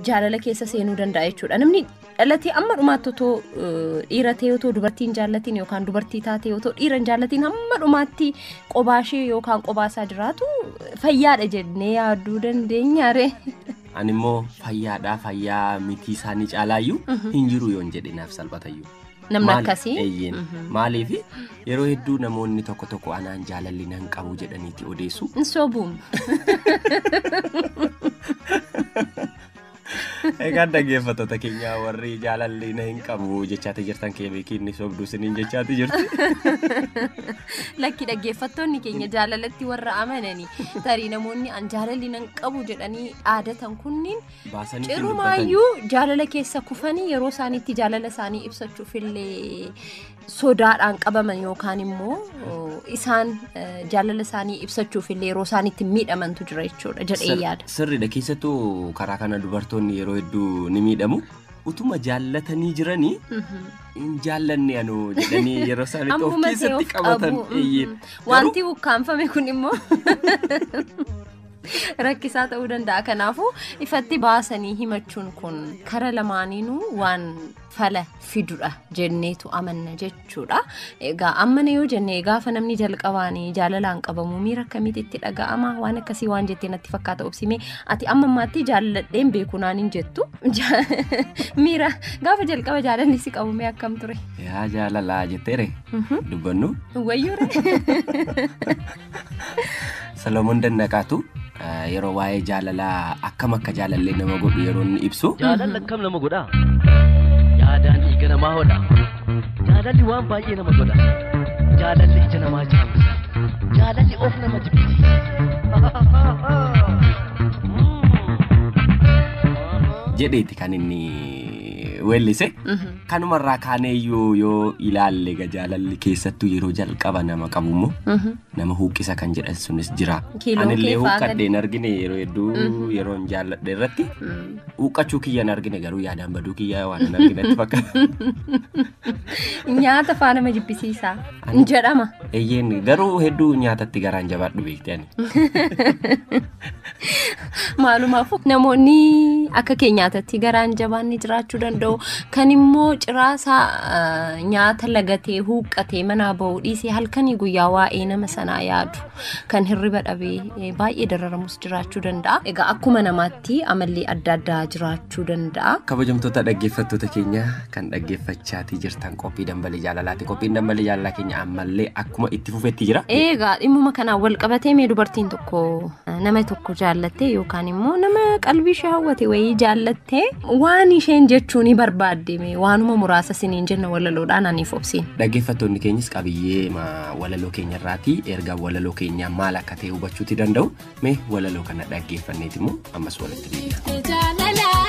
jaalala keessa seenuu danda'a jechuudha. Namni dhalatee amma dhumaatti otoo eh, dhiira ta'e otoo dubartiin jaallatiin yookaan dubartii taatee otoo dhiira hin jaallatiin hamma dhumaatti qobaa ishee yookaan qobaa isaa jiraatu fayyaadha jennee yaaduu dandeenya ree. Ani immoo fayyaadhaa fayyaa mitii isaanii caalaayyuu hin jiru yoon jedhe naaf salphatayyuu. Namni Maali? akkasii. Eeyyeen. Mhm. Maaliif yeroo hedduu namoonni tokko tokko anaan jaalalli nan qabu jedhaniiti odeessu. Hin sobuun. Egaa dhaggeeffattoota keenya warri jaalalli na hin qabu jechaati jirtan keebeekii inni sobduu siniin jechaati jirti. Lakki dhaggeeffattoonni keenya jaalalatti warra amananii tarii namoonni an jaalalli nan qabu jedhanii aadatan kunniin baasanitti dubbatan. Cirumaayyuu jaalala keessa kufanii yeroo isaaniitti jaalala isaanii ibsachuuf illee sodaadhaan qabaman yookaan immoo oh, isaan eh, jaalala isaanii ibsachuuf illee yeroo isaaniitti miidhamantu jira jechuudha jedhee Sir- yaada. Sirriidha keessattuu karaa kana dubartoonni yeroo hedduu ni miidhamu. Utuma jaallatanii jiranii Mhm. hin jaallanne anoo jedhanii yeroo isaanitti of Ammuma ta'e keessatti of qabatan. qabu. eeyyee. Mhm. Wanti ukkaanfame kun immoo rakkisaa ta'uu danda'a. Kanaafuu ifatti baasanii himachuun kun kara lamaaniinuu waan fala fidudha jenneetu amanna jechuudha. Egaa ammana yoo jenne gaafa namni jalqabaanii jaalalaan qabamu miira akkamitti itti dhaga'ama waan akkasii waan jettee natti fakkaata obsimee ati amma ammaatti jaalladheen beeku naan hin jettu miira gaafa jalqaba jaalalli si qabu mee akkam ture. Yaa jaalalaa jetteere dubbannu. Wayyuu Solomoon Dannaqaatu eh, yeroo waa'ee jaalalaa akkam akka jaalallee nama godhu yeroo inni ibsu Jaalalli akkam nama godha? Yaadaan dhiiga namaa hodha. Jaalalli waan baay'ee nama godha. Jaalalli ija namaa jaamsa. Jaalalli of nama jibbisiisa. jedheeti kan inni weellise. Kanuma irraa kaanee iyyuu yoo ilaalle egaa jaalalli keessattuu yeroo jalqaba nama qabu immoo Mhm. nama huuqqisa kan jedhan sunis jira. Kiiloon Anillee kee faagan. huuqqadhee hin argine yeroo hedduu Mhm. yeroo hin jaalladhe irratti Mm. huuqqachuu kiyya hin argine garuu yaadaan baduu kiyya waan hin arginetti fakkaata. Nyaata faana ma jibbisiisaa? Ani- Jedhama. Eeyyeen garuu hedduu nyaatatti garaan jabaadhu beekte ani. Maalumaaf namoonni akka keenyaatatti garaan jabaanni jiraachuu danda'u. Kan immoo ciraasaa eh, nyaata lagatee huuqqatee manaa ba'uu dhiisee halkanii guyyaa waa'ee nama sanaa yaadu. Kan hirriba dhabee eh, baay'ee dararamus jiraachuu danda'a. Egaa akkuma namaatti amalli adda addaa jiraachuu. jechuu danda'a. Kabajamtoota dhaggeeffattoota keenya kan dhaggeeffachaatii jirtan qophii dambalii jaalalaati. Qophiin dambalii jaalalaa keenya ammallee akkuma itti fufetti jira. Eegaa dhimmuma kanaan wal qabatee mee dubartiin tokko nama tokko jaallattee yookaan immoo nama qalbii ishee hawwate wayii jaallattee waan isheen jechuu ni barbaadde mee waanuma muraasa siniin jenna walaloodhaan aniif obsiin. Dhaggeeffattoonni keenyas qabiyyee ma- walaloo keenya irraatii erga walaloo keenyaa maal akka ta'e hubachuuti danda'u. Mee walaloo kana dhaggeeffanneeti immoo ammas walitti deebi'a.